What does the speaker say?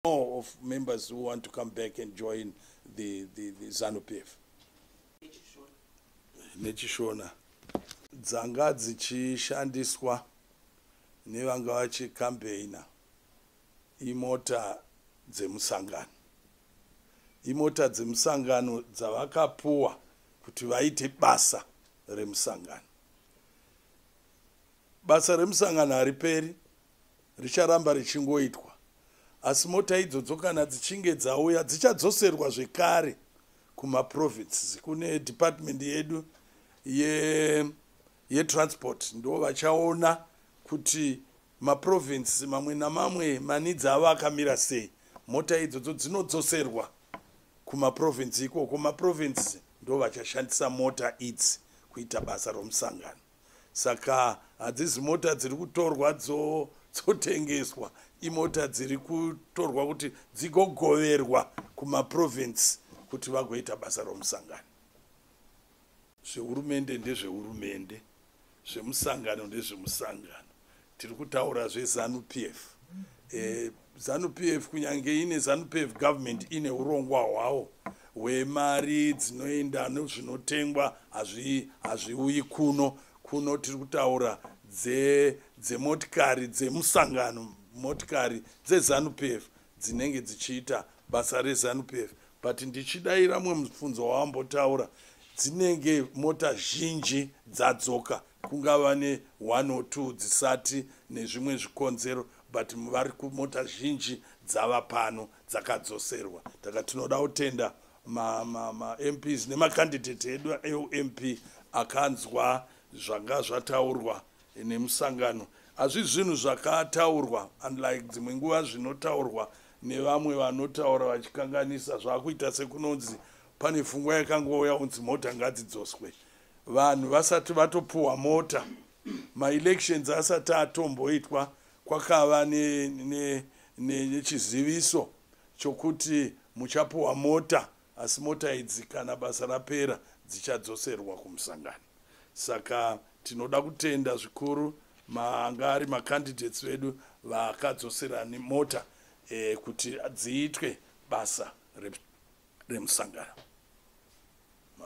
more of members who want to come back and join the, the, the zanu p f nechishona dzanga dzichishandiswa nevanga vachikampeina imota dzemusangano imota dzemusangano dzavakapuwa kuti vaite basa remusangano Basa remusangano hariperi, richaramba richingoitwa. Asi mota idzodzo kana dzichinge dzauya dzichadzoserwa zvekare kumaprovinces kune department yedu yetransport ye ndo vachaona kuti maprovinces mamwe namamwe manidzi avo akamira sei mota idzodzo dzinodzoserwa kumaprovince ikoko maprovince ndo vachashandisa mota idzi kuita basa romusangano saka hadzizi mota dziri kutorwa dzotengeswa imota dziri kutorwa kuti dzigogoverwa kumaprovince kuti vagoita basa romusangano zvehurumende ndezvehurumende zvemusangano ndezvemusangano tiri kutaura zvezanu p f eh, zanu p f kunyange ine zanu p f government ine urongwa hwawo hwemari dzinoenda nezvinotengwa hazviuyi kuno kuno tiri kutaura dzemotikari dze dzemusangano motikari dzezanu p f dzinenge dzichiita basa rezanupf but ndichidaira mwe mubvunzo wawambotaura dzinenge mota zhinji dzadzoka kungava ne one or two dzisati nezvimwe zvikonzero but vari kumota zhinji dzava pano dzakadzoserwa taka tinoda kutenda mamps nemacandidate edu eump akanzwa zvanga zvataurwa nemusangano hazvi zvinhu zvakataurwa unlike dzimwe nguva zvinotaurwa nevamwe vanotaura vachikanganisa zvakuita sekunonzi pane fungwa yakangouya unzi mota ngadzidzoswe vanhu vasati vatopuwa mota maelections asati atomboitwa kwakava nechiziviso ne, ne, ne chokuti muchapuwa mota Asi mota idzi kana basa rapera dzichadzoserwa kumusangano. Saka tinoda kutenda zvikuru maanga ari macandidates vedu vakadzosera mota eh, kuti dziitwe basa remusangano.